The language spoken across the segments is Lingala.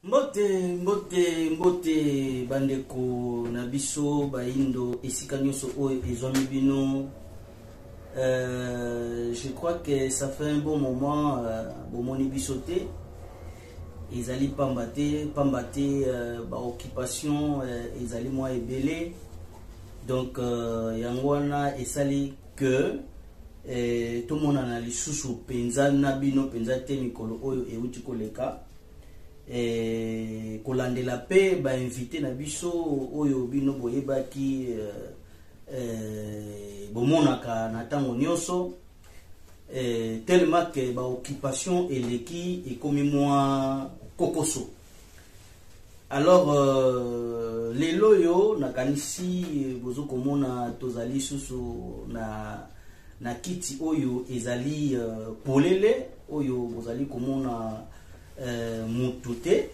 Mbote, mbote, mbote bandeko na biso baindo esika nyonso oyo ezwami bino. Euh, je crois que ça fait un bon moment euh, bomoni biso te ezali pamba te pamba te euh, baoccupation euh, ezali mwa ebele donc euh, yango wana esali que eh, tomonana lisusu mpenza na bino mpenza te mikolo oyo euti koleka eh, kolandela mpe bainvite na biso oyo bino boyebaki eh, eh, bomonaka na ntango nyonso eh, tellement ke baoccupation eleki ekomi mwa kokoso alors euh, lelo oyo nakanisi bozo komona tozali susu na na kiti oyo ezali euh, polele oyo bozali komona euh, mutu te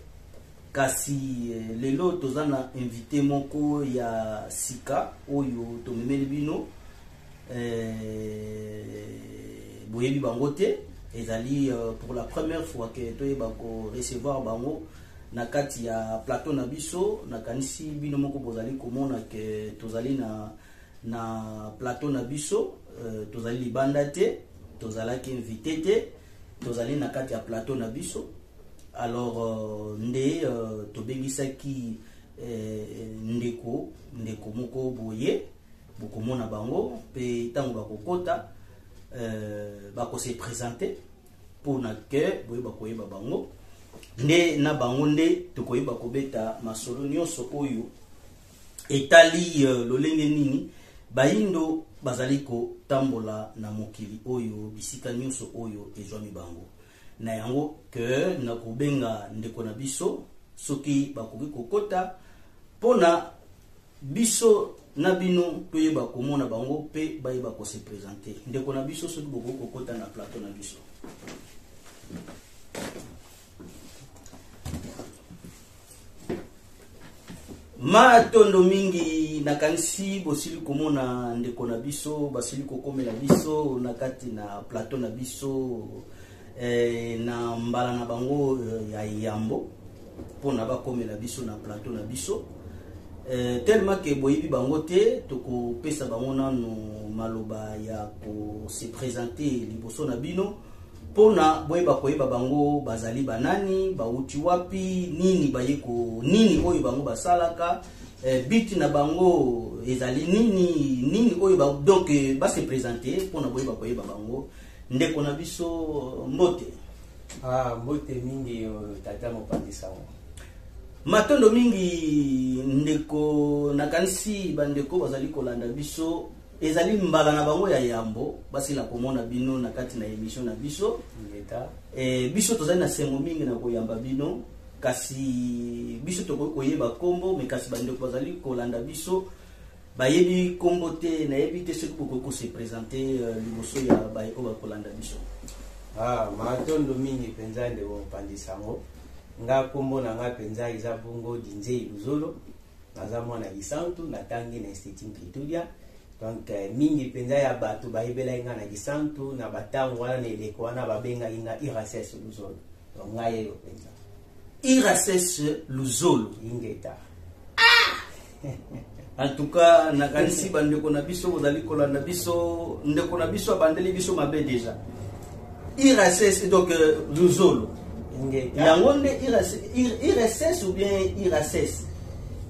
kasi euh, lelo toza na invité moko ya sika oyo tomemeli bino euh, boyebi bango te ezali euh, pour la première fois que ke toyeba recevoir bango na kati ya plateau na biso nakanisi bino moko bozali komona ke tozali na, na plateau na biso euh, tozali libanda te tozalaki invité te tozali na kati ya plateau na biso alors euh, nde euh, tobengisaki euh, ndeko ndeko moko boye bokomona bango mpe ntango bakokota euh, bakose présente mpo na ke boyeba koyeba bango nde na bango nde tokoyeba kobeta masolo nyonso oyo etali euh, lolenge nini bayindo bazali kotambola na mokili oyo bisika nyonso oyo ezwami bango na yango ke na kobenga ndeko na biso soki bakoki kokota mpo na Biso na bino toyeba komona bango pe bayeba ko se presenter. Ndeko na biso soki bokoki kokota na plateau na biso. Matondo mingi nakanisi bosili komona ndeko na biso basili kokomela biso na kati na plateau na biso eh, na mbala na bango eh, ya yambo mpona bakomela biso na plateau na biso eh, tellement ke boyebi bango te tokopesa bango nano maloba ya kose présente liboso na bino mpona boyeba koyeba bango bazali banani bauti wapi nini baye ko nini oyo bango basalaka eh, biti na bango ezali nini nini oyo ba, donc eh, base présente mpona boyeba koyeba bango Ndeko na biso mbote. Ah, mbote mingi tata mopanzi sango. Matondo mingi ndeko nakanisi bandeko bazali kolanda biso ezali mbala na bango ya yambo basila komona bino na kati na emission na biso e, biso tozali na sengo mingi na koyamba bino kasi biso tokoki koyeba nkombo me kasi bandeko bazali kolanda biso Bayebi kombo te, nayebi te soki bokoki ko se presenter euh, liboso ya baye oyo bakolanda biso. Ah, matondo mingi mpenza ndeko mopanzi sango. Nga kombo na nga mpenza eza bongo Dinzei Luzolo. Naza mwana Gisantu, natangi na Institut Mpitudia. Donc euh, mingi mpenza ya bato bayebelaki nga na Gisantu na batango wana na eleko wana babengaki nga Irases Luzolo. Donc nga yeyo mpenza. Irases Luzolo. Ingeta. en tout cas nakanisi bandeko na biso bozali kolanda biso ndeko na biso abandeli biso mabe déjà irss donc euh, luzolo yango nde irss ou bien irss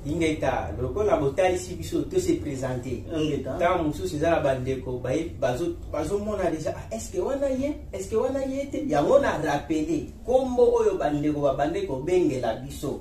ingeta lokola botalisi biso to se présente ntango mosusu eza na bandeko bazomona deja ah, estce wana ye estce wana ye te yango na rappele nkombo oyo bandeko babandaki kobengela biso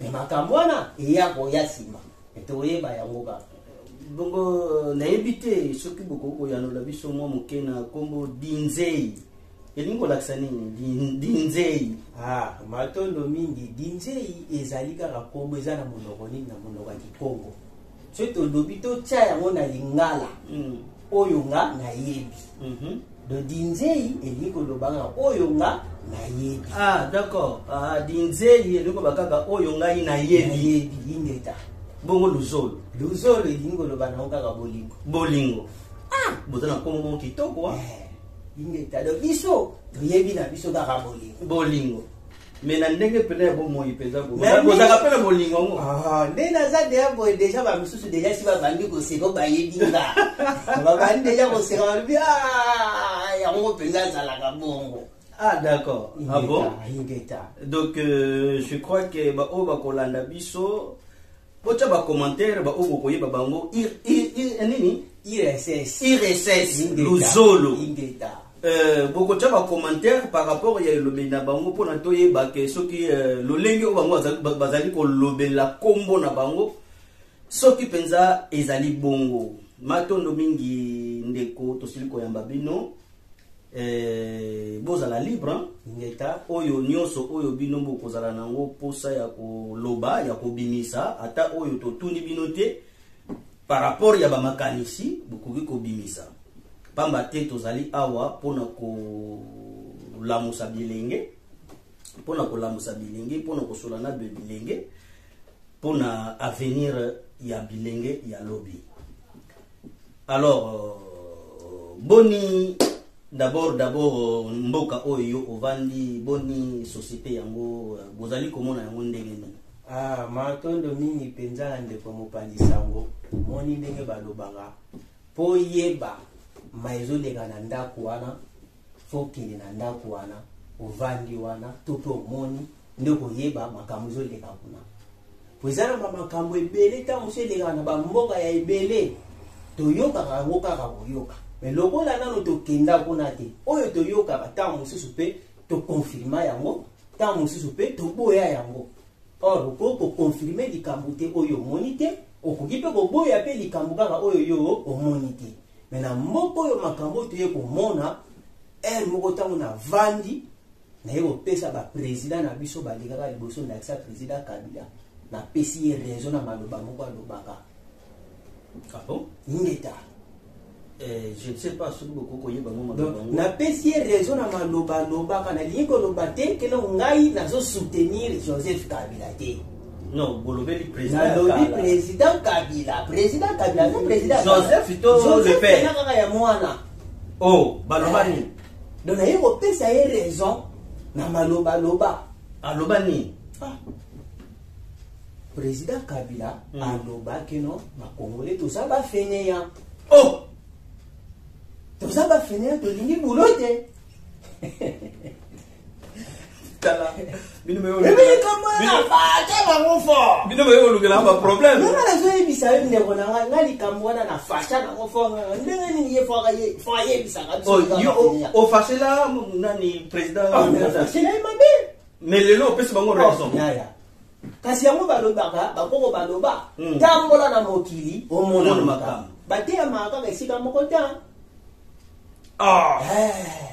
Mais makambo wana eya koya nsima tokoyeba yango kaka bongo nayebi te soki bokoki koyanola biso mwa moke na nkombo dinzei elingi kolakisa nini Din- dinzei Ah, matondo mingi dinzei ezali kaka nkombo eza na monoko nini na monoko ya kikongo soki tolobi totya yango na lingala mm. oyo nga nayebi mm -hmm. dodinzei elingi koloba nga oyo nga nayebi ah, d'accord ah, dinzei elingi koloba kaka oyo ngai nayebi ingeta bongo luzolo luzolo elingi koloba nango kaka bolingo bolingo ah, boza na nkombo moko kitoko ingeta ah. eh, do biso toyebi na biso kaka bolingo bolingo mais na ndenge mpenza ya bomoi mpenza bozaka mpe na bolingo yango ah, nde naza deya boye deja bamisusu deja si babandi koseka bayebi nga babandi deja koseka balobi ah, yango mpenza azalaka bongo Ah d'accord. Ah bon Donc euh, je crois que ba oyo bakolanda biso Botya ba commentaire ba oyo bokoyeba bango ir ir ir nini IRSS. IRSS Ingeta. luzolo Ingeta. Euh, bokotya ba commentaire par rapport ya elobeli na bango mpo na toyeba ke soki euh, lolenge oyo bango bazali- ba- bazali kolobela kombo na bango soki mpenza ezali bongo matondo mingi ndeko tosili koyamba bino Eh, bozala libre hein, ngeta oyo nyoso oyo bino bokozala nango posa ya koloba ya kobimisa ata oyo totuni bino te par rapport ya bamakanisi bokoki kobimisa pamba te tozali awa mpona kolamusa bilenge mpona kolamusa bilenge mpona kosola na bilenge mpona avenir ya bilenge ya lobi alors euh, boni d'abord d'abord euh, mboka oyo yo ovandi boni société yango euh, bozali komona yango ndenge nini ah, matondo mingi mpenza na ndeko mopanzi sango omoni ndenge balobaka mpo yeba ma ezoleka na ndako wana faut okende na ndako wana ovandi wana to mpe omoni nde okoyeba makambo ezoleka kuna po eza na bamakambo ebele ntango mosusu elekaka na bamboka ya ebele toyokaka yango kaka koyoka me lokola nano tokenda kuna te oyo toyokaka ntango mosusu mpe tokonfirma yango ntango mosusu mpe toboya yango or okoki kokonfirme likambo te oyo omoni te okoki mpe koboya mpe likambo kaka oyo yo omoni te me na moko oyo makambo oyo toye komona heure moko ntango navandi naye kopesa baprésident na biso balekaka liboso ndakisa président kabila napesi ye raison na maloba moko alobaka ah bon? ingeta Eh, je ne sais pas soki bokoki koyeba ngo makambo napesi ye raison na maloba alobaka nalingi koloba te keno ngai nazo soutenir joseph kabila te Non, bolobeli président. Nalobi président Kabila, président Kabila, non président. Joseph to le père. Joseph kaka ya mwana. Oh, baloba nini? Donc naye kopesa ye raison na maloba loba. Aloba nini? Ah. Président Kabila hmm. aloba que non, ba Congolais toza ba fainéant. Oh. Toza ba fainéant tolingi boulot te. tala bino boyolukelanga baproblème nanga nazoyebisa yo ndeko na ngai nga likambo wana na fasha nango fo ndenge nini ye fo ayebisaka ofasela nani président aselai mabe mais lelo opesi bango raison kasi yango balobaka bakoko baloba hmm. tambola na mokili omona makambo bateyamaka kaka esika moko te ah. eh.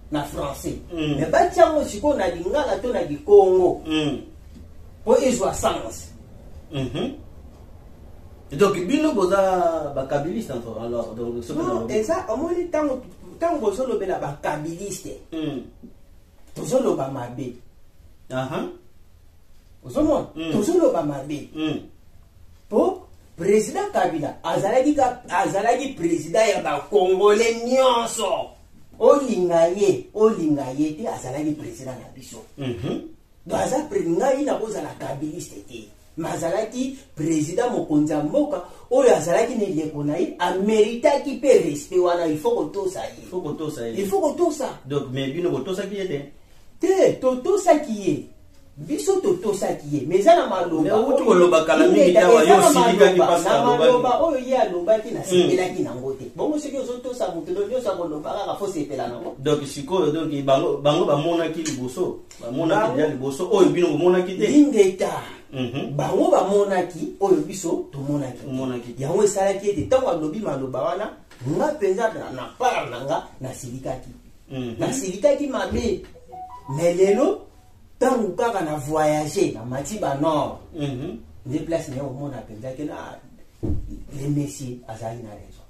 na français mm. mais batia yango sikoyo na lingala to na likongo mm. mpo mm. ezwa sens mm -hmm. donc bino boza bakabiliste alors eza omoni ntango ntango bozolobela bakabiliste mm. tozoloba mabe uh -huh. ozomona mm. tozoloba mabe mm. po président kabila azalaki azalaki président ya bacongolais nyonso olinga ye olinga ye te azalaki president na biso mhm. do aza ngai nakozala kabiliste te ma azalaki président mokonzi ya mboka oyo azalaki na eleko na ye ameritaki mpe respect wana il faut kotosa ye il faut kotosa donc mais bino botosaki ye te te totosaki ye biso totosaki ye mais eza na malobauti koloba kala mingi tawa yo osilikaki pasnamaloba oyo ye alobaki nasepelaki nango te bongo soki ozotosa moto no nyonso akoloba kaka fo sepela nango donc sikoyo donc bango bamonaki liboso bamonaki ya liboso oyo bino bomonaki te ingeta mhm. bango bamonaki oyo biso tomonaki yango esalaki ete ntango alobi maloba wana nga mpenza na part na nga nasilikaki Mm. nasilikaki mabe me lelo ntango kaka na voyage namati banor mm-hmm. nde place naye omona mpenza ke na ah, le messie azali na raison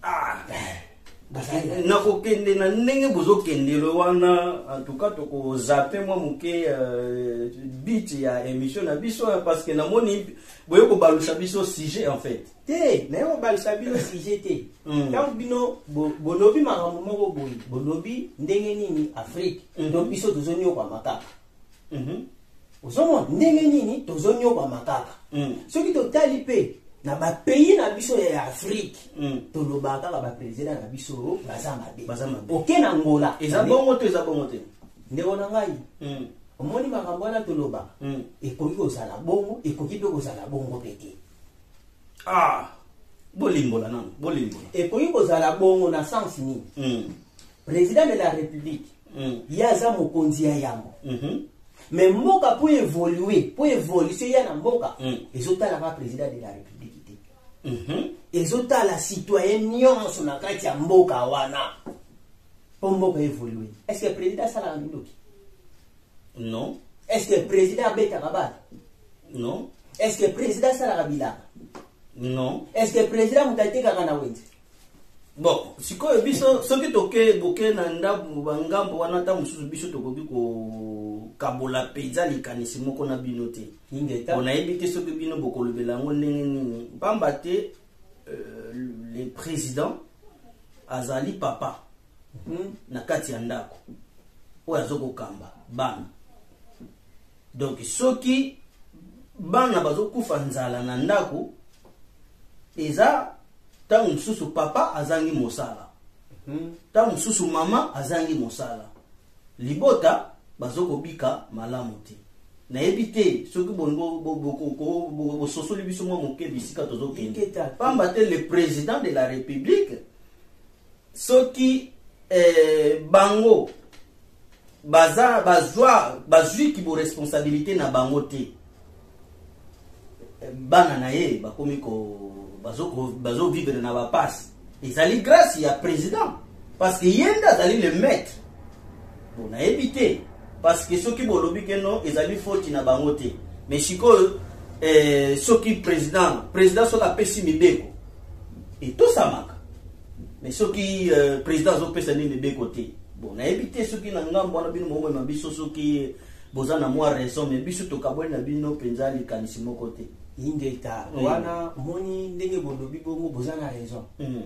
ah. eh, nakokende na ndenge bozokendele wana antuka tokozape mwa moke euh, bit ya émission na biso parce que namoni boye kobalusa biso sujet en fait te naye kobalisa bino sujet te mm. ntango bino bolobi makambo moko boye bolobi ndenge nini afrike to mm-hmm. biso tozoniokwama kaka mm-hmm. ozomona ndenge nini tozoniokwama kaka mm. soki totali mpe na bapays na biso ya afrike mm. tolobaka kaka baprezida na biso baza mabe baza mabe oke na ngola eza bongo to eza bongo te ndeko na ngai mm. omoni makambo wana toloba ekoki kozala bongo ekoki mpe kozala bongo mpe te ah bolimbola nanu bolimbola ekoki kozala bongo na sens nini mm. président de la république mm. ye aza mokonzi ya yambo mm -hmm. mais mboka mpo évolue mpo évolution ya na mboka mm. ezotalaka président de la république te mm -hmm. ezotala citoyen nyonso na kati ya mboka wana mpo mboka évolue est ce que président asalaka mindoki non est ce que président abetaka batu non est ce que président asalaka bilaka non est ce que président moto atekaka na wenze bon sikoyo biso soki toke boke na ndambo bangambo wana ntango mosusu biso tokoki kokabola mpenza likanisi moko na bino te mpo nayebi te soki bino bokolobela yango ndenge nini mpamba te euh, le président azali papa hmm, na kati ya ndako oyo azokokamba bana donc soki bana bazokufa nzala na ndako eza ntango mosusu papa azangi mosala hmm. ntango mosusu mama azangi mosala libota bazokobika malamu te nayebi te soki bososoli biso mwa moke bisika tozokende pamba te le président de la république soki eh, bango baza bazwa bazwi kibo responsabilité na bango te bana na ye bakomi ko bazovivre bazo na bapasi ezali grâce ya président parce que ye nde azali le maître bo nayebi te parce que soki bolobi ke no ezali foti na bango te mais sikoyo eh, soki président président soki apesi mibeko etosamaka mais soki euh, président azopesa nini mibeko te bon nayebi te soki na ngambo wana bino mokomema biso soki boza na mwa raison mais biso tokabwani na bino mpenza likanisi moko te ingeta mm. wana moni ndenge bolobi bongo boza na raison mm.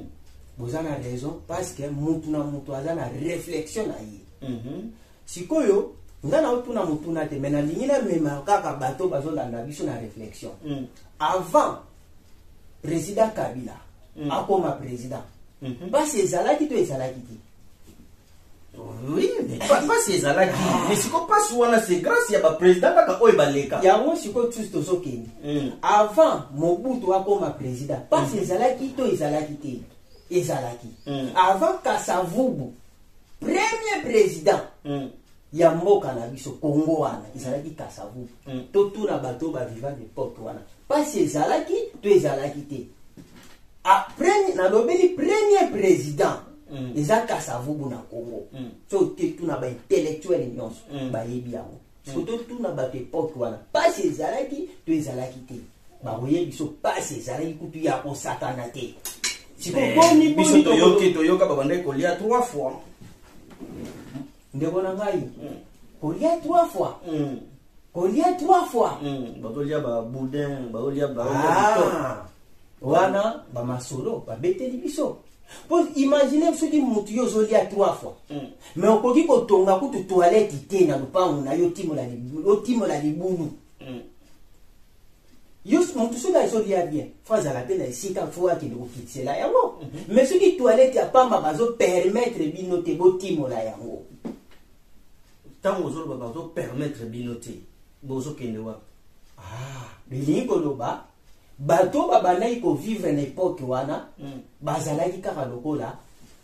boza na raison parce que mutu na mutu aza na réflexion na ye mm -hmm. sikoyo nga naotuna motuna te mai nalingi namema kaka bato bazolanda biso na réflexion mm. avant president kabila mm. akoma president mhm. mpasi mm -hmm. ezalaki to ezalaki te oui mpasi ezalaki ah. mais siko mpasi wana se grâce ya baprésident kaka oyo baleka yango sikoyo tusi tozokende mm. avant mobutu akoma président mpasi mm. ezalaki to ezalaki te ezalaki mm. avant kasavubu premier president mm. ya mboka na biso kongo wana ezalaki kasavu mm. totuna bato oyo baviva depote wana mpasi ezalaki to ezalaki te ah, nalobeli premier president mm. eza kasavubu na kongo mm. so te tuna baintellectuele nyonso mm. bayebi yango siko totuna bato epoke wana mpasi ezalaki to ezalaki te bakoye biso mpasi ezalaki kutu ya kosakana te sikobonibiso toyoki toyoka babandaki kolia trois fois ndeko na ngai hmm. kolia trois fois hmm. kolia trois fois hmm. bakolia baboudin bakolia ba ah. wana ba masolo ba beteli biso po imagine soki mutu yo ozolia trois fois hmm. mais okoki kotonga kutu toilette te na lupangu na yo otimola libulu otimola libulu hmm. yo mutu soki azolia bien fo azala mpe na esika fo akende kokikisela yango mhm. mais soki toilette ya pamba bazopermettre bino te botimola yango ntango ozoloba bazopermettre bino te bozokende wapi ah, bilingi koloba bato oyo babandaki kovivre na epoke wana mm. bazalaki kaka lokola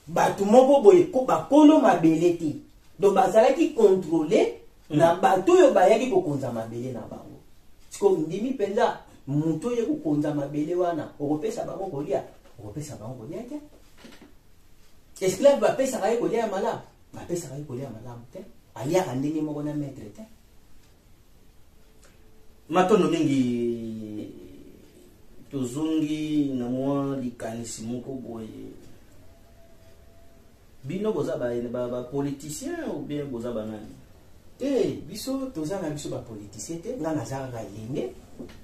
bato moko boye bakolo mabele te donc bazalaki kontrole mm. na bato oyo bayaki kokonza mabele na bango siko ndimi mpenza moto oye kokonza mabele wana okopesa bango kolia okopesa bango kolia te esclave bapesaka ye kolia ya malamu bapesaka ye kolia ya malamu te aliaka ndenge moko na maitre te Matondo mingi tozongi na mwa likanisi moko boye bino boza bapoliticien ba, ba ou bien boza banani te biso toza na biso bapoliticien te nga naza kaka elenge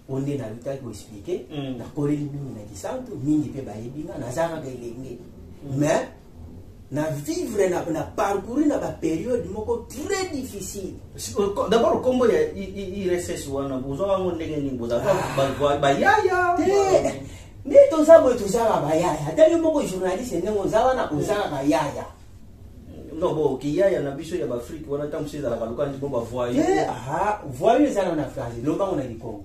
oyo nde nalutaki koexplike mm. nakoleli mingi na kisantu mingi mpe bayebi nga naza kaka elenge mm. mais na vivre na, na parcourir na baperiode moko très difficile d'abord kombo ya irss wana bozwa bango ndenge nini bozaa bayaya nde toza boye tozaka bayaya ata yo moko journaliste ndenge oza wana ozaka bayaya non bo kiyaya na biso ya baafrike wana ntango mosusu ezalaka lokanisi bo bavoye voye ezala na france lobango na likongo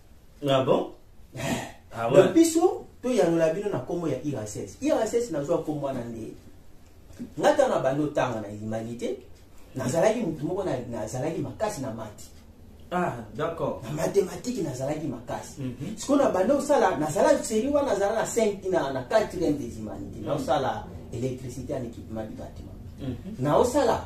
Ah bon? Ah ouais. Donc biso toyanola bino na nkombo ya irss irss nazwa nkombo wana nde nga ntango na bando tanga na humanité nazalaki motu moko na- nazalaki makasi na mati Ah, d'accord. na matematiki nazalaki makasi Mhm. sikoyo na banda osala nazala seri wana nazala na 5 na, na 4 des humanité naosala électricité en équipement du bâtiment Mhm. naosala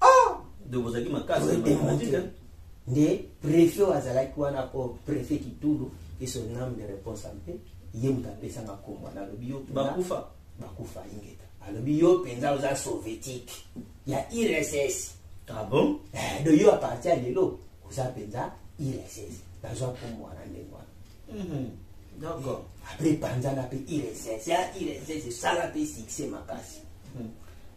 ah donc bozalaki makasi pour démontrer hein. nde préfet oyo azalaki wana po préfet kitulu et son âme de réponse mpe ye moto apesanga nkombo wana alobi yo bakufa bakufa ingeta alobi yo mpenza oza soviétique ya irss ah bon eh, do yo aparti ya lelo oza mpenza irss nazwa nkombo wana ndenge wana mhm. d'accord après epanzana mpe iresese ya iresese esala mpe succès makasi hmm.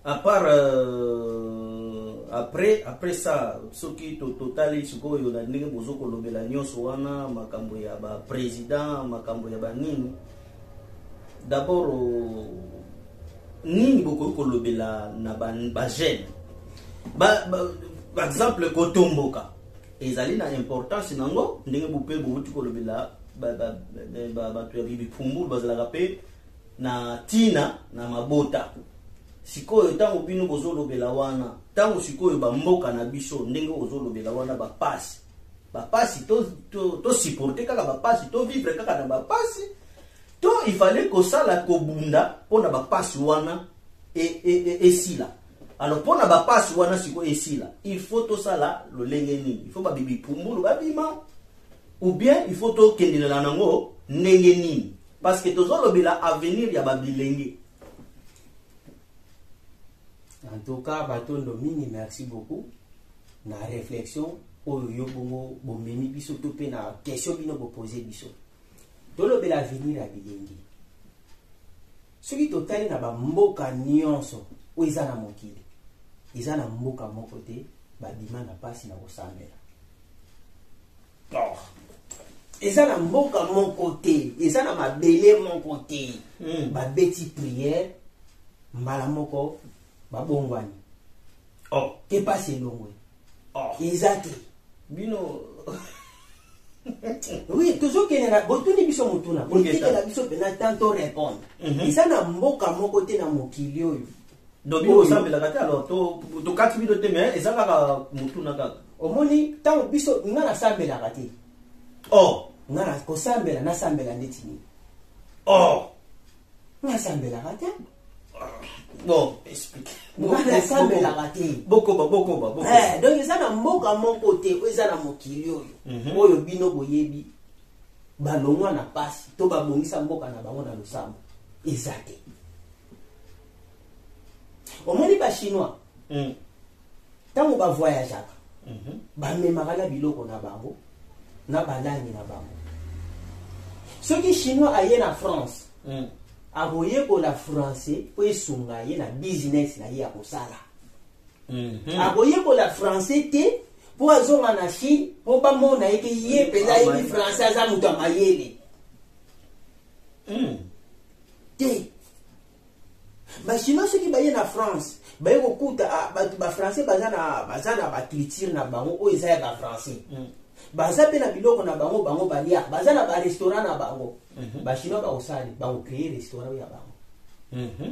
à part euh, après après ça soki totali sikoyo na ndenge bozo kolobela nyonso wana makambo ya ba président makambo ya banini d'abord euh, nini bokoki kolobela na bagene ba, ba, ba, ba exemple kotomboka Ezali na importance na yango ndenge bope bowuti kolobela bato ya bibi pumbulu bazalaka mpe na ntina na mabota sikoyo ntango bino bozolobela wana ntango sikoyo bamboka na biso ndenge ozolobela wana bapasi bapasi tosupporte kaka bapasi tovivre kaka na bapasi to ifale kosala kobunda mpo na bapasi wana esila e, e, e alors mpo na bapasi wana sikoyo esila il faut tosala lolenge nini il faut babibi pumbulu babima ou bien il faut tokendelela nango ndenge nini parce que tozolobela avenir ya babilenge en tout cas batondo mingi merci beaucoup na réflexion oyo yo bongo bomemi biso to mpe na question bino bopose biso tolobela avenir ya bilenge soki totali na bamboka nyonso oyo eza na mokili eza na mboka moko te babima na mpasi na kosambela eza na mboka moko te eza na mabele moko te hmm. babeti priere mbala moko babongwani oh. te mpasi elongwe oh. eza te bino oui tozokende na botuni biso motuna botikela biso mpena temps to répondre mhm. eza na mboka moko te na mokili oyo donc bino bosambelaka te alors tokati bino te mais eza kaka motuna kaka omoni ntango biso nga nasambelaka te o oh. nga kosambela nasambela ndeti nini o oh. nasambelaka te bon explique asambelaka te bokoba bokoba eh, donc eza na mboka moko te oyo eza na mokili oyo mhm. oyo bino boyebi balongwa na mpasi to babongisa mboka na bango na losambo eza te omoni bachinois mm. ntango bavoyageaka mhm. bamemaka na biloko na bango na balangi na bango soki chinois aye na france mm. akoyekola français mpo esunga ye na business na ye akosala mm -hmm. akoyekola français te mpo azonga na chine mpo bamona ete ye mpenza ayebi ah, français aza moto ya mayele mm. te ba chinois soki baye na france baye kokuta ah, bato ba français baza na, baza na baculture na bango oyo eza ya ba français mm. baza mpe na biloko na bango bango balia baza na barestaurant na bango mm -hmm. bachinois bakosali bakocree restaurant ya bango mm -hmm.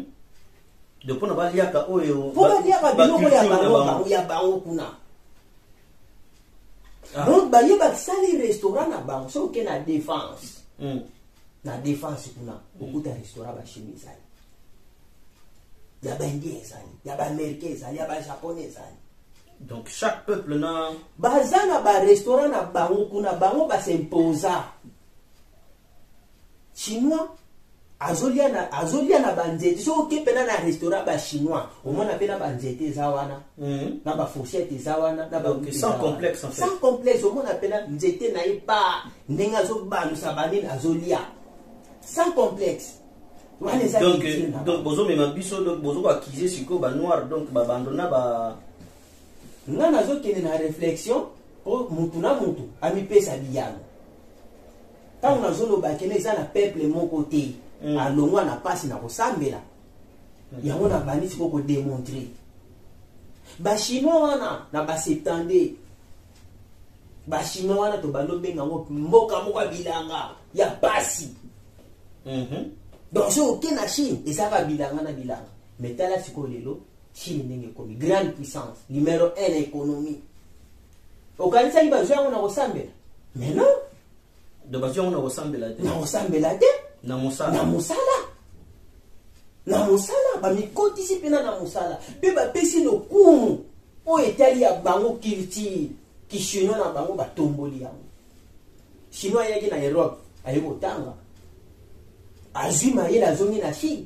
donc mpona baliaka oyo mpo baliaka biloko ya bango ya bango kuna ah. donc baye basali restaurant na bango soki oke na défense mm. na defense kuna okuta restaurant bashimi ezali ya baindien ezali ya baamericain ezali ya bajapone ezali donc chaque peuple na baza na barestaurant na bango kuna bango basimposa chinois azolia na, azolia na banzete soki oke mpena na restaurant bachinois omona mpe na banzete eza wana mm -hmm. na bafourchette eza wana na sans complexe omona mpena nzete na ye pa ndenge azobalusa banini azolia sans complexe wana eza donc donc bozomema biso donc bozokoakize sikoyo banoir donc babando na ba nga nazokende na réflexion mpo motu na motu amipesa biyano ntango nazoloba kende eza na peuple moko te mm. alongwa na mpasi na kosambela mm. yango nabandi sikoyo kodemontre bachinois wana na baseptande ba chinois wana tobandi obenga yango mboka moko ya bilanga ya pasi mhm. donc soki oke na chine ezalaka bilanga na bilanga me tala sikoyo lelo chine ndenge ekomi grande puissance numero 1 na économie okanisaki bazwi yango na kosambela mais non donc bazwi yango na kosambela te na kosambela te na mosala na mosala na mosala bamikotisi mpena na mosala mpe bapesi lokumu oyo etali ya bango culture kishino na bango batomboli yango chinois ayaki na europe aye kotanga azwi mayele azongi na chine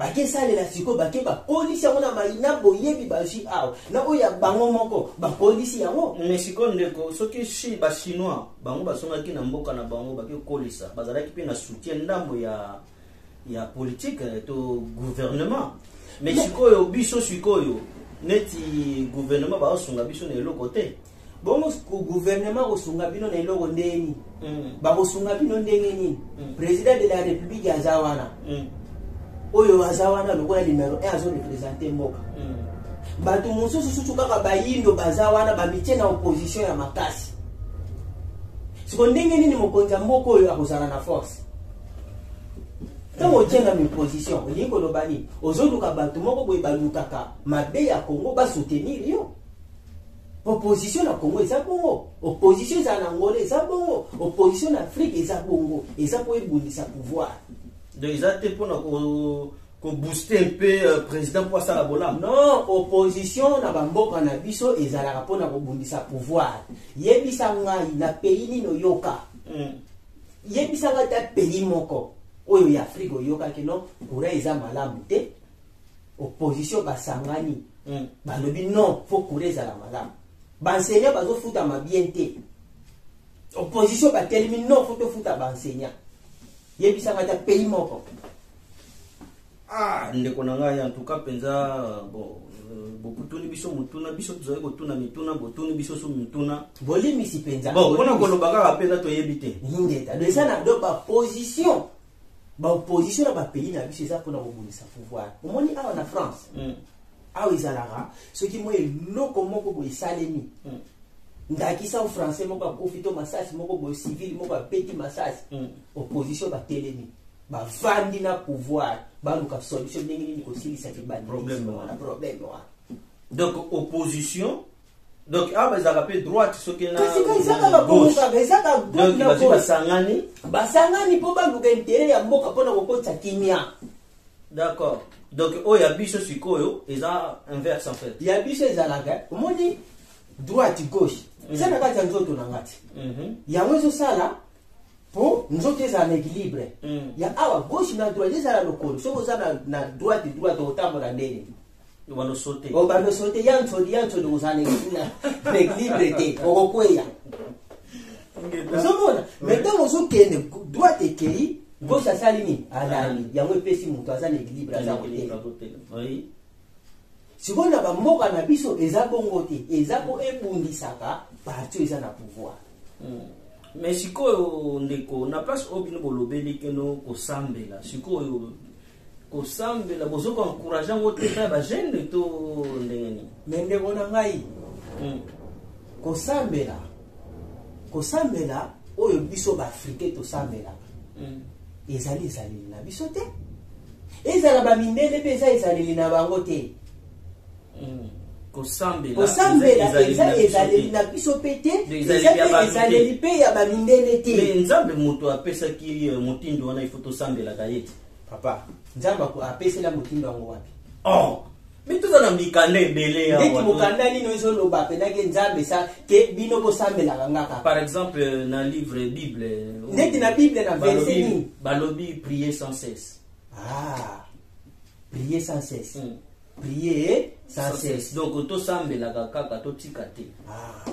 Bake salela sikoyo bake bakolisi yango na mai na boyebi bazwi awa na oyo ya bango moko bakolisi yango me sikoyo ndeko soki shi bachinois bango basongaki na mboka na bango bake kolisa bazalaki mpe na soutien ndambo ya ya politike eh, to gouvernement me sikoyo biso sikoyo neti gouvernement baosunga biso na eloko te bongo gouvernement akosunga bino na eloko ndenge nini mm. bakosunga bino ndenge nini mm. président de la république aza wana mm. oyo aza wana lokola numero 1 azorepresente mboka bato mosusu susu kaka bayindo baza wana bamitie na opposition ya makasi siko ndenge nini mokonzi ya mboka oyo akozala na force ntango otyanga miposition olingi koloba nini ozoluka bato moko boye balukaka mabe ya kongo basoutenir yo Opposition na Congo eza bongo, opposition eza na Angola eza bongo, opposition na Afrique eza bongo, eza po ebundisa pouvoir. Donc eza te pona ko ko booster un peu euh, président pour ça la bolam. Non, opposition na bamboka na biso ezalaka pona ko bundisa pouvoir. Yebisa ngai na pays nino yoka. Mm. Yebisa ngai ta pays moko oyo ya Afrique oyoka kino kura eza malamu te. opposition basangani mm. balobi non fo kura ezala malamu baenseignant bazofutama bien te opposition batelemi non fo tofuta baenseignant yebisanga ata pays moko ah ndeko na ngai antuka mpenza bon euh, bokutuni biso motuna biso tozali kotuna mituna botuni biso so mituna bolimisi mpenza bon mpona koloba kaka mpenza toyebi te ingeta eza na do baposition ba opposition na ba pays na biso eza pona kobundisa pouvoir omoni awa na France mm. awa ezalaka soki mwa eloko moko boye esalemi mm. ndakisa o français moko akufi to masasi moko boye civil moko abeti masasi mm. opposition batelemi bavandi na pouvoir baluka solution ndenge nini kosilisa libandi problème wana donc opposition donc awa bazalaka mpe droite soki nabazi basangani basangani mpo baluka intere ya mboka mpo na kokotisa kimia d'accord donc oyo ya biso sikoyo eza inverse en fait ya biso ezalaka omoni droite gauche mhm. eza na kati ya nzoto na ngati mhm. yango ezosala mpo nzoto ezala na équilibre mhm. ya awa gauche na droite ezala lokolo soki oza na droite droite okotambola ndenge obando sote obando sote ya nsodi ya nsodi kozala na equilibre te okokweya ozomona mai ntango ozokende droite ekei gauche asali nini alali yango epesi moto aza na equilibre aza kotela sikoyo na bamboka na biso eza bongo te eza mpo ebundisaka parti eza na pouvoir hmm. mais sikoyo ndeko na place oyo bino bolobeli keno kosambela sikoyo kosambela bozo ko encourage yango te epai ya bagene to ndenge nini me ndeko na ngai hmm. kosambela kosambela oyo biso baafrike tosambelaka hmm. ezali ezaleli na biso te ezala bamindele mpe eza ezaleli na bango te hmm. kosambela eza ezaleli na biso mpe te ezaleli mpe ya bamindele te nzambe moto apesaki eh, motindo wana ifo tosambelaka ye te papa nzambe aku- apesela motindo yango wapi oh mais toza na mikanda ebele awa. ndeti mokanda nini ezoloba mpenza ke nzambe sa ke bino bosambelaka nga kaka par exemple na livre bible Ndeti na Bible, na verset balobi- nini? balobi prier sans cesse ah prier sans cesse Mm. prier sans cesse donc tosambelaka kaka totika te ah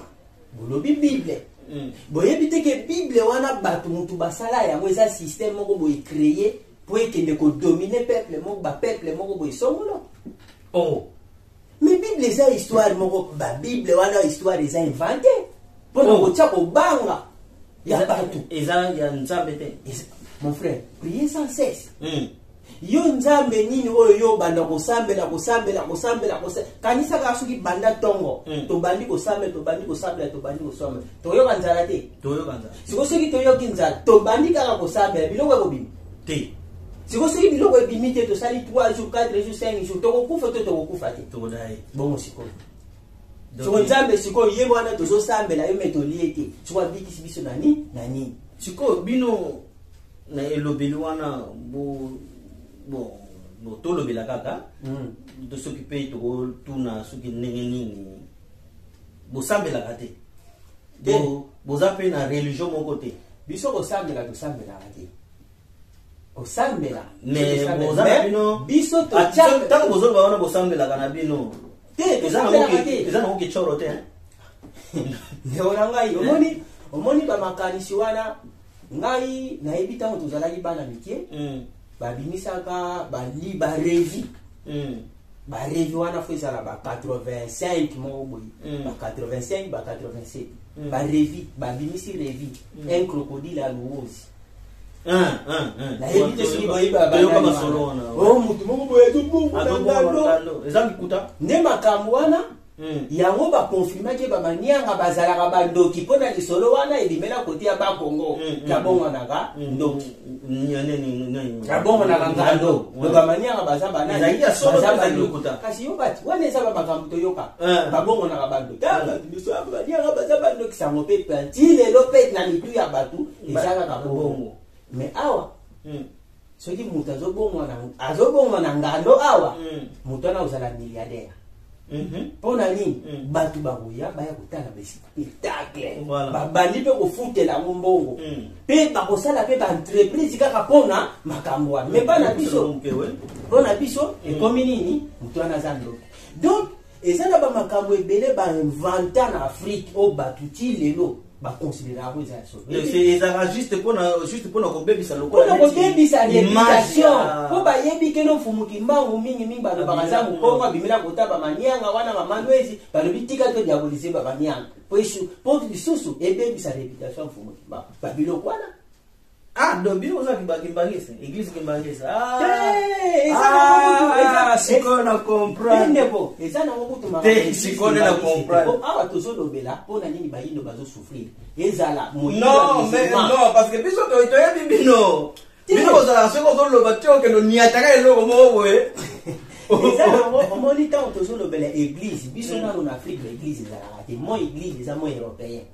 bolobi bible mm. boyebi te ke bible wana bato motu basala yango eza système moko boye créer mpo ekende kodomine peuple moko bapeuple moko boye songolo oh. mais bible eza histoire moko babible wana histoire eza invente mpo na oh. kotya kobanga ya bato eza ya nzambe te mon frère prier sans cesse mm. yo nzambe nini oyo yo obanda kosambela kosambela kosambela kanisa kaka soki banda ntongo hmm. tobandi kosambela tobandi kosambela tobandi kosambela toyoka nzala te siko soki toyoki nzala tobandi kaka kosambela biloko ekobima te siko soki biloko ebimi te tosali 3 jours 4 jours 5 jours tokokufa to tokokufa te bongo sikoyo siko nzambe sikoyo ye wana tozosambela yo me tolie te siko abikisi biso na nini na nini sikoyo bino na elobeli wana bo bon bon tolobela kaka mm. to soki mpe tokotuna soki ndenge nini bosambelaka te bo, boza mpe na religion moko te biso kosambela tosambelaka te osambela ntango bozoloba wana bosambelaka na bino eza nango kicoro te ndeko na ngai omoni bamakanisi wana ngai nayebi ntango tozalaki bana mike mm. babimisaka bali barevi mm. barevi wana fo ezala ba 85 moko boye mm. ba 85 ba 87 mm. barevi babimisi revi mm. un crocodile ya luozi nayebi te soki boyebibayoka masolo wana o motu moko boye tobungu na ndando nde makambo wana Mm. yango ba confirma ke ba manianga bazalaka ba ndoki pona lisolo wana ebimela kote ya ba Congo mm, mm, kabongonaka ndoki kabongonaka ngando donc ba manianga baza ba nani baza ba ndoki kasi yo bati wana eza ba makambo toyoka eh. babongonaka ba ndoki tanga eh. biso ba manianga baza ba ndoki sango pe penti lelo pe na mitu ya batu eza kaka bongo mais awa soki moto azobongwa na ngando awa mm. moto wana ozala milliardaire mm-hmm. mpo na nini mm. bato bakoya baya kotala baspectacle babandi mpe kofutela yango mbongo mm. mpe bakosala mpe baentreprise kaka mpona makambo wana me mpo na biso mpo na biso ekomi nini moto wana aza ndoki donc eza na bamakambo ebele bainventa na afrike oyo bato ti lelo baconsideraka eza ya solo ezalaka juste mpona juste mpona kobebisa lokola kobebisa reputation mpo bayebi keno mfumu kimbangu mingi mingi balobaka aza mokongo abimela kota bamanianga wana bamalwezi balobi tika to diabolise bamanianga mpo lisusu ebebisa reputation mfumu kimbangu babiloko wana Ah, donc bino oza kiba kimbangisa, église kimbangisa. Ah, Eh, eza na ngo kutu, ah, eza- sikoyo na comprendre. ndeko eza nango kutuma Te, sikoyo nde na comprendre. awa tozolobela mpo na nini bayindo bazosouffrir ezala moyindo ya Non, mais musulman. non, parce que biso to- toyebi bino. Te. Bino kozala soki ozoloba te okende oniataka eloko moko boye. eza nango omoni ntango tozolobela église biso nano na afrique baéglise ezalaka te moi église eza moi européen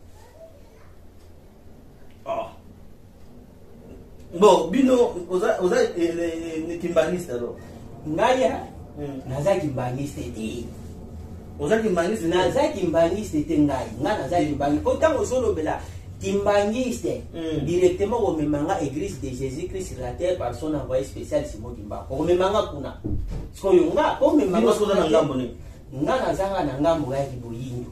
bon bino oza oza eh, eh, eh, kimbaniste alors ngai hmm. naza kimbaniste te oza kimbaniste naza kimbaniste te ngai ngai naza kimbangi po ntango ozolobela kimbanguiste hmm. directement komema nga église de jésus christ sur la terre par son envoyé spécial simon kimbangu komema nga kuna sikoyo nga komema nga nga nazanga na ngambo ya kiboyindo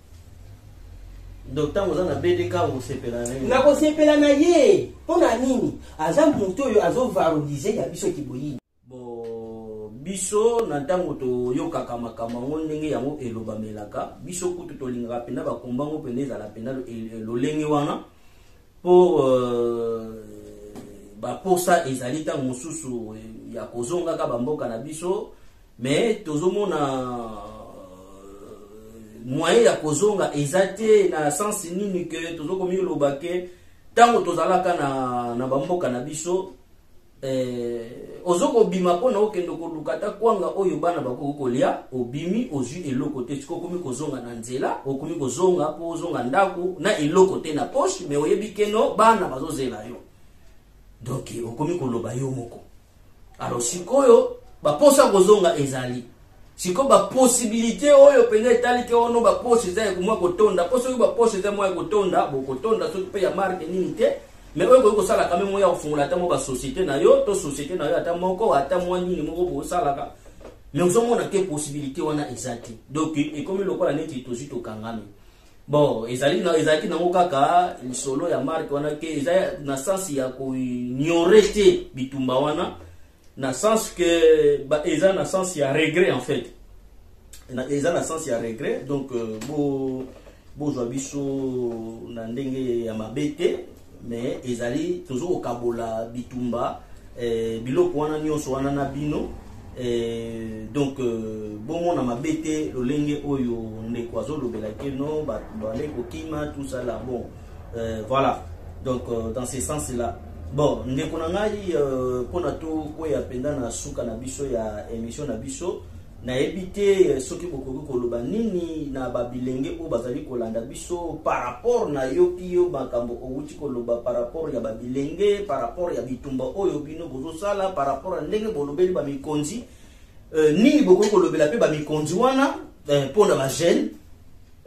donc ntango oza na bdk okosepela na ye nakosepela na ye mpo na nini aza moto oyo azovalorize ya biso kiboyini biso na ntango toyokaka makambo yango ndenge yango elobamelaka biso kutu tolingaka mpenza bakomba yango mpenza ezala mpenza lolenge wana mpo euh, baposa ezali ntango mosusu ya kozongaka bamboka na biso mais tozomona euh, moyen ya kozonga eza te na sens nini ke tozokomiloba ke ntango tozalaka na, na bamboka na biso eh, ozokobima mpo na okende koluka ata kwanga oyo bana bakoki kolya obimi ozwi eloko te siko okomi kozonga na nzela okomi kozonga mpo ozonga ndako na eloko te na poshe me oyebi keno bana bazozela yo donk okomi koloba yo moko alors sikoyo baposa kozonga ezali sikoyo baposibilité oyo mpenza etali te ono baposa eza ya komwa kotonda mpo soki baposa eza mwa ya kotonda bokotonda soki mpe ya marke nini te mais oyo ekoki kosala kame moya kofungola ata mwa basociété na yo to société na yo ata moko ata mwa nini moko bokosalaka mais ozomona te possibilité wana eza te donc ekomi lokola neti tozwi tokangami bon ezali na ezalaki nango kaka lisolo ya marke wana ke eza na sens ya koignore te bitumba wana na sens ke ba, eza na sens ya regret en fait na, eza na sens ya regret donc euh, bo bozwa biso na ndenge ya mabe te mais ezali tozo kokabola bitumba eh, biloko wana nyonso wana na bino eh, donc euh, bomona mabe te lolenge oyo ndeko azolobela ke no bale kokima tout ça là bon euh, voilà donc euh, dans ce sens là bon ndeko na ngai euh, mpona tokweya mpenza na suka na biso ya émission na biso Nayebi te soki bokoki koloba nini na ba bilenge oyo bazali kolanda biso par rapport na yoki yo makambo owuti koloba par rapport ya ba bilenge par rapport ya bitumba oyo bino bozosala par rapport ya ndenge bolobeli ba mikonzi euh, nini bokoki kolobela pe ba mikonzi wana euh, mpo na ba jeune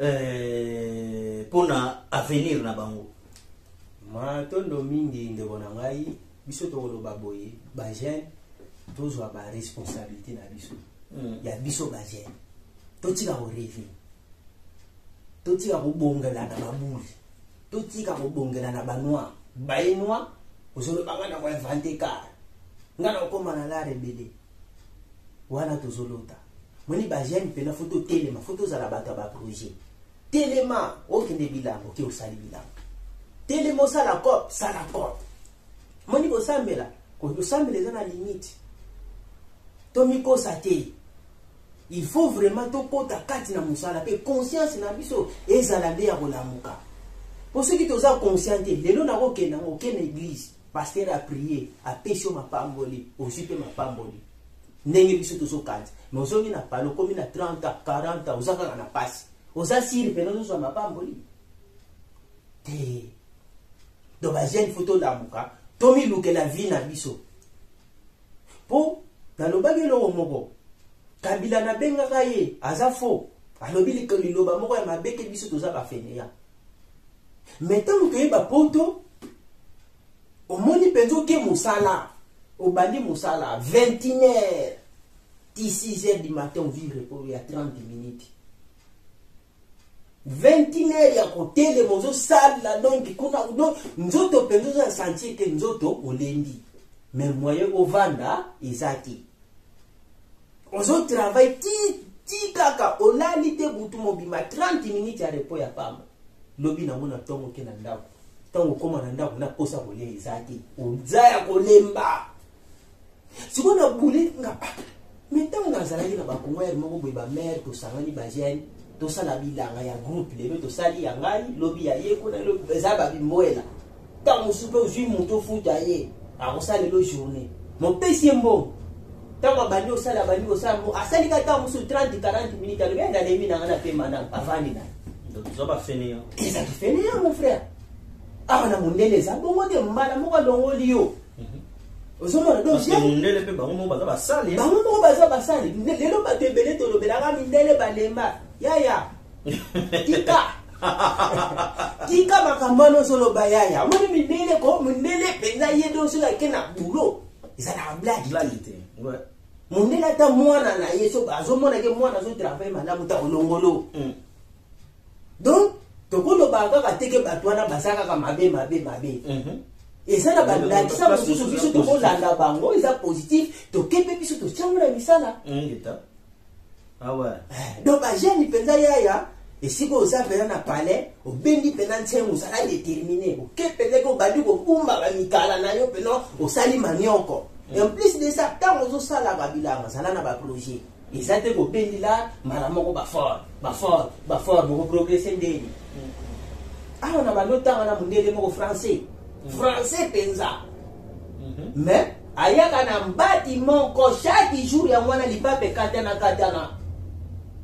euh, mpo na avenir na bango matondo mingi ndeko na ngai biso tokoloba boye bajeune tozwa baresponsabilité na biso mm. ya biso bajeune totika koreve totika kobongela na babuli totika kobongela na banoir baye noir ozolobanga na koinvente kar ngai nakokoma na lar ebele wana tozolota moni bajeune mpena fo totelema fo tozala bato ya baprojet Telema okende bilambo ke osali bilambo. Telema osala cop, sala cop. Moni kosambela, kosambela eza na limite. Tomikosa te. Il faut vraiment tokota kati na mosala pe conscience na biso ezala nde ya kolamuka. Po soki toza conscient te, lelo nakokende yango okende eglise, pasteur a prier, apesi yo mapamboli, ozwi pe mapamboli. ndenge biso tozo kanza mais ozongi na pale okomi na 30 ans 40 ans oza kaka na pasi oza siri pene ozozwa mapamboli te do bajeune fo tolamuka tomilukela vie na biso mpo nalobaki eloko moko kabila nabengaka ye aza fo alobi liloba moko ya mabe te biso toza bafeneya me ntango toyeba poto omoni mpenza oke mosala obandi mosala 21 heure ti 6 heure du matin ovie repo ya 30 minute 21 heure ya kotelema ozosala donk kuna don nzoto mpenza oza sentir te nzoto olembi mais moyen ovanda eza te ozotravaille ti ti kaka olali te butu mobima 30 minute ya repo ya pamba lobi nango na ntongo oke na ndako ntango okoma na ndako na mposa kolia eza te oza ya kolemba sikoyo na bule nga ah, me ntango nazalaki na bakongoyere moko boye bamare tosangani bagene tosala bilanga ya groupe lelo tosali ya ngai lobi ya ye kuna eza babimboela ntango mosusu mpe ozwi moto ofuta ye akosala lelo journée mopesi ye mbongo ntango abandi osala abandi kosala asali ka ntango mosusu 30 40 minute alobi adalembi na ngai na pema na avandi na ye toza ba fainéant eza ki fainéant mon frère awa ah, na mondele eza bongo te mbala moko alongoli yo mhm. ozomona dondele mpe bango moko baza basali bango moko baza basali lelo bato ebele tolobelaka mindele balemba yaya tika tika makambo wana ozoloba yaya omoni mindele ko mindele mpenza ye nde osoki ake na bulo ezalaka blage te mondele ata mwana na ye so azomona ke mwana azotravaille malamu ta olongolo mm. donc tokolobaka kaka te ke bato wana baza kaka mabe mabe mabe mhm. eza na bandakisa mosusu biso tokolanda bango eza positif tokepe biso totyango na misala Ah ouais. Eh, donc bajeni mpenza yaya esika oza mpenza na palais obendi mpenza nsengo ozala déterminé oke mpenza ke obandi kobumba bamikala na yo mpenza osali manioko mm. en plus de ça ntango ozosalaka bilanga zala na baprojet eza te kobendela mbala moko bafort bafort bafort bokoprogrese ndeni mm. awa na balotanga na mondele moko français français penza mhm. mais ayaka na mbati moko chaque jour yango wana lipape ekatana katana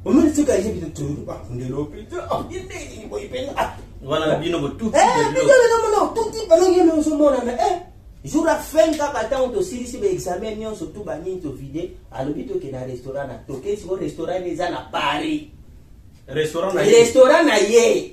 omoni tika ye bino tolobakundela opete yendeni boyi mpenza wana na bino botuti bino tuti bino ye nozomonana e jour ya fin kaka ntango tosilisi baexamen nyonso tu banini tovide alobi toke na restaurant na toke siko restaurant eza na paris restaurant na ye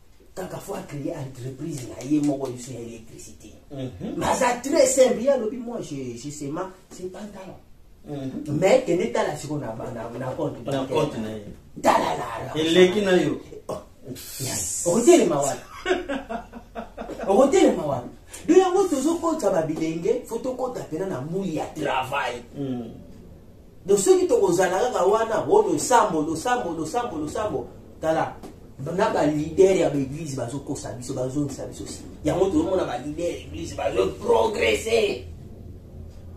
kaka fo acreye entreprise na ye moko liso ya électricité mhm. maza très simple ye alobi moi je sema se pantalon mhm. mais kende tala siko na compte tala lala eleki na yo oh, okotelema wapi okotelema wapi do yango tozokota babilenge fo tokota mpena na muli ya travail mhm. Donc soki tokozala kaka wana o oh, losambo losambo losambo losambo tala na balidere ya baeglize bazokosa biso bazongisa biso nsima yango tozomona balidere ya eglize bazoprogrese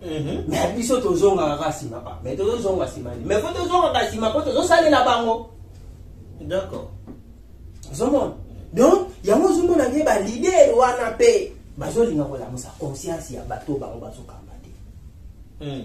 mhm. me biso tozongaka kaka nsima pa me tozozonga nsima ni me po tozongaka nsima po tozosalela bango d'accord ozomona donc yango ozomona ke balidere wana mpe bazolinga kolamusa conscience ya bato bango bazokamba te mhm.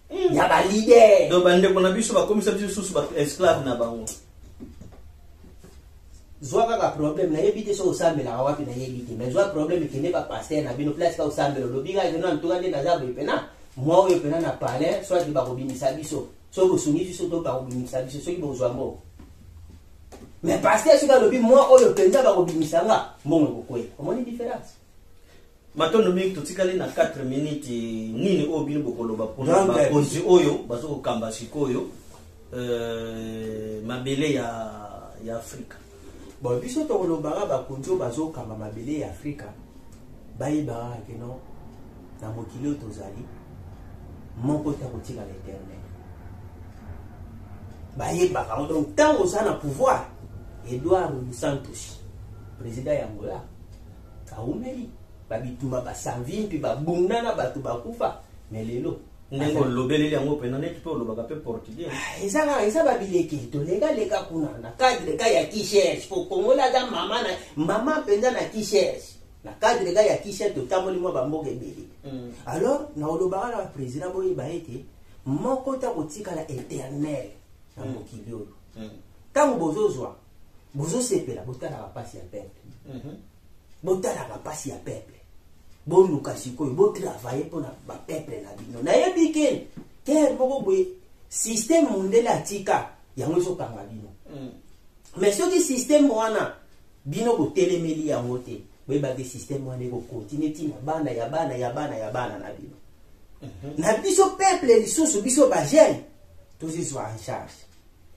ya ba leader donc ba ndeko na biso bakomisa biso susu ba esclave na bango zwa kaka problème nayebi te soki osambelaka wapi nayebi te mais zwa problème kende ba pasteur na bino place ka osambela olobi kaka keno antuka nde naza boye mpena mwa oyo mpena na palais soit bakobimisa biso soki bosungi biso to bakobimisa biso soki bozwa mbongo mais pasteur soki alobi mwa oyo mpenza bakobimisa nga mbongo ekokwela omoni différence Matondo mingi totikali na 4 minutes nini oyo bino bokoloba pona bakonzi oyo bazokokamba sikoyo euh, mabele ya, ya afrika bon biso tokolobaka bakonzi oyo bazokamba mabele ya afrika bayebaka keno na mokili oyo tozali moko te akotikala eternel bayebaka yango donc ntango oza na pouvoir edouard santos président ya angola awumeli ba bituma ba savimpi ba bunda na bato bakufa me lelo ndenge olobeleli yango mpena neti mpe olobaka mpe portugais ah, eza kaka eza babileki tolekaleka kuna na cadre ka ya kichers po kongola aza mama na mama mpenza na kichers na cadre ka ya kichers totamboli mwa bamboka ebele mm. alors na olobaka na baprésident boyeba ete moko ta kotikala éternel na mm. mokili oyo mm. ntango bozozwa bozo sepela botala ba pasi ya peuple mhm. botala ba pasi ya peuple boluka sikoyo botravaille mpo na ba peuple na bino nayebi ke terre moko boye système mondele atika yango ezokanga bino mhm. mais soki système wana bino botelemeli yango te boyeba te système wana ekokontinue ntina bana ya bana ya bana ya bana na bino mhm. na biso peuple lisusu biso bagene tozizwa en charge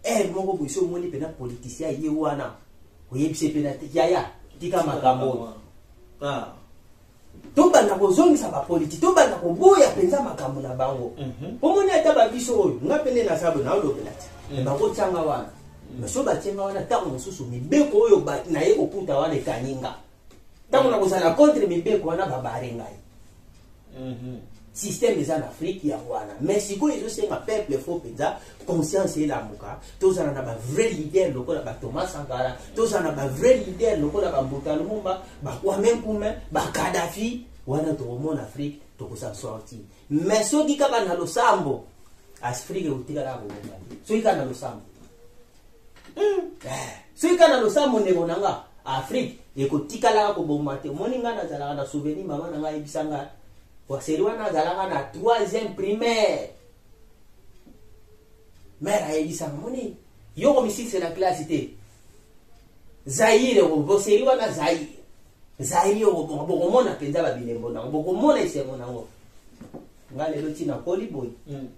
Heure moko boye so omoni pena politicien ye wana oyebise pena te yaya tika makambo oyo. Ah. tobanda kozongisa bapoliti tobanda koboya mpenza makambo na bango mhm. omoni ata babiso oyo nga mpe nde naza boye naolobela te mhm. bakotyanga wana mhm. so batyanga wana ntango mosusu mibeko oyo naye kokuta wana ekangi nga ntango nakozala contre mibeko wana babare ngai mhm. systeme eza na afrike yango wana mais sikoyo ezosenga peuple fo mpenza conscience elamuka tozala na bavrai leader lokola bathomas sankara tozala na bavrai leader lokola bambuta lumumba bakwame nkume bakadafi wana tokomona afrike tokosa sorti mais soki kaka na losambo afrike ekotikala kobonga te soki kaka na losambo Hmm. Eh, soki kaka na losambo ndeko na nga afrique ekotikalaka kobomba te omoni ngai nazalaka na souvenir mama na ngai ayebisa ngai waseri wana azalaka na troisième primaire mare ayebisa nga moni yo komisilisa na classe te zaire boseri wana zaire zaire okobonga bokomona mpenza babilembo nango bokomona esengo nango ngai lelo ntina koli boye hmm.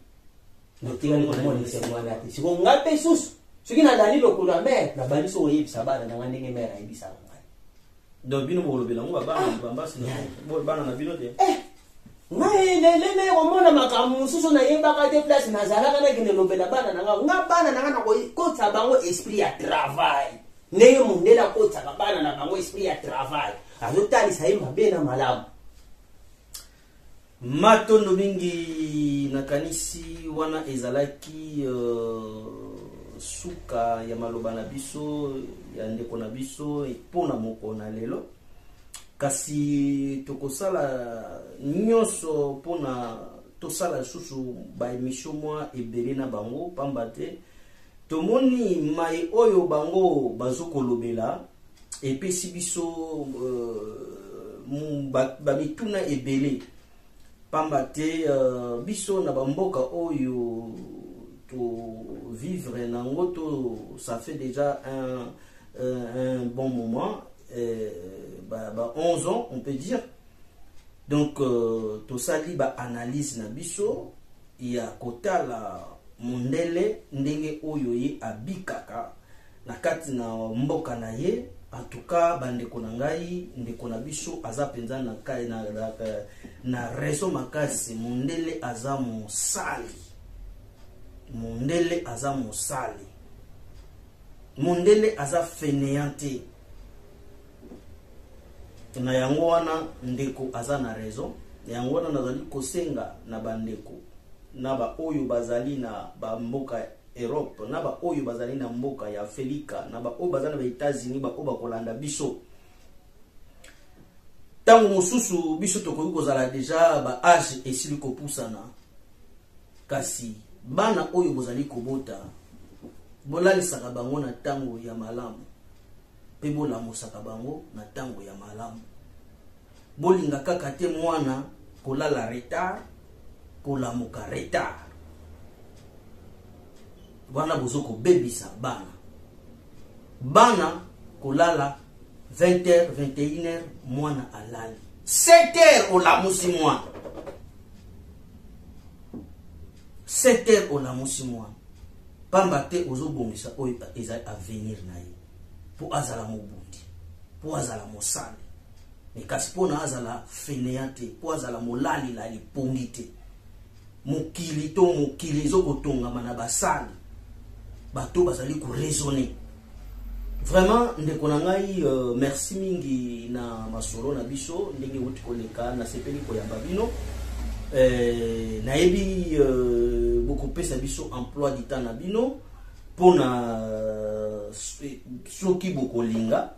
natikali komonisa yango wana te siko nga mpe susu soki nalali lokolo ya mere nabandi so koyebisa bana na ngai ndenge mere ayebisaka ngai donc bino bokolobela yango babana ah. bambasi bana na bino te eh, ngai lele naye komona makambo mosusu nayebaka te place nazalaka nakende lobela bana na ngai nga bana na ngai nakokotisa bango esprit ya travail ndenge mondele akotisaka bana na bango esprit ya travail azotalisa ye mabe na malamu Matondo mingi nakanisi wana ezalaki uh, suka ya maloba na biso ya ndeko na biso mpo na mokolo na lelo kasi tokosala nyonso mpo na tosala lisusu baemisio mwa ebele na bango mpamba te tomoni mai oyo bango bazokolobela epesi biso euh, bamituna ba ebele pamba te euh, biso na bamboka oyo tovivre na yango to ça fait déjà un, euh, un bon moment euh, ba, ba 11 ans on peut dire donc euh, tosali baanalyse na biso ya kotala mondele ndenge oyo ye abikaka na kati na mboka na ye en tout cas bandeko na ngai ndeko na biso aza mpenza na, na, na, na raison makasi mondele aza mosali mondele aza mosali mondele aza fainéant te na yango wana ndeko aza na raison na yango wana nazali kosenga na bandeko na baoyo bazali na bamboka Europe na ba oyo bazali na mboka ya Afelika na ba oyo baza na ba Etats-Unis ba oyo bakolanda biso ntango mosusu biso tokoki kozala deja ba age esili kopusana kasi bana oyo bozali kobota bolalisaka bango na ntango ya malamu mpe bolamusaka bango na ntango ya malamu Bolinga kaka te mwana kolala retard, kolamuka retard. Wana bozo kobebisa bana. Bana kolala 20h, 21h mwana alali. 7h olamusi mwana. 7h olamusi mwana. Pamba te ozobongisa oyo ezali avenir na ye. mpo azala mobundi mpo azala mosali me kasi mpo na azala fenea te mpo azala molalilali pongi te mokili to mokili ezokotongama na basali bato bazali koraisonne vraiment ndeko na ngai uh, merci mingi na masolo na biso ndenge euti koleka nasepeli koyamba bino eh, nayebi uh, bokopesa biso emploi du temps na bino mpo na eh, soki bokolinga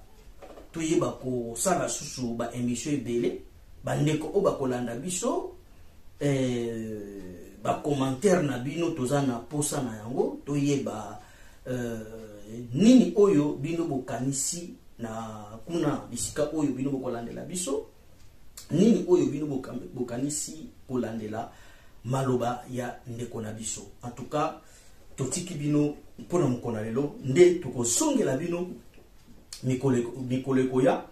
toyeba kosala susu baémission ebele bandeko oyo bakolanda biso eh, bacommentaire na bino toza na mposa na yango toyeba eh, nini oyo bino bokanisi na kuna bisika oyo bino bokolandela biso nini oyo bino bokanisi kolandela maloba ya ndeko na biso en tout cas totiki bino mpo na mokolo na lelo nde tokozongela bino mikolo ekoya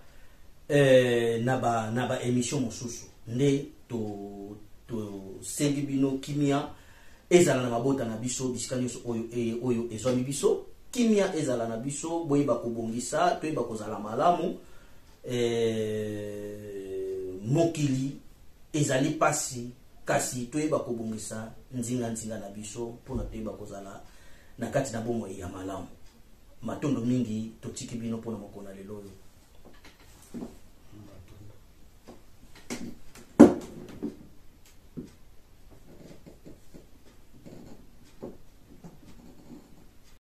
eh, na ba na ba émission mosusu nde to tosengi bino kimia ezala na mabota na biso bisika nyonso oyo, e, oyo ezwami biso kimia ezala na biso boyeba kobongisa toyeba kozala malamu eh, mokili ezali mpasi kasi toyeba kobongisa nzinganzinga na biso mpo na toyeba kozala na kati na bomoi ya malamu. Matondo mingi, totiki bino mpo na mokolo na lelo oyo.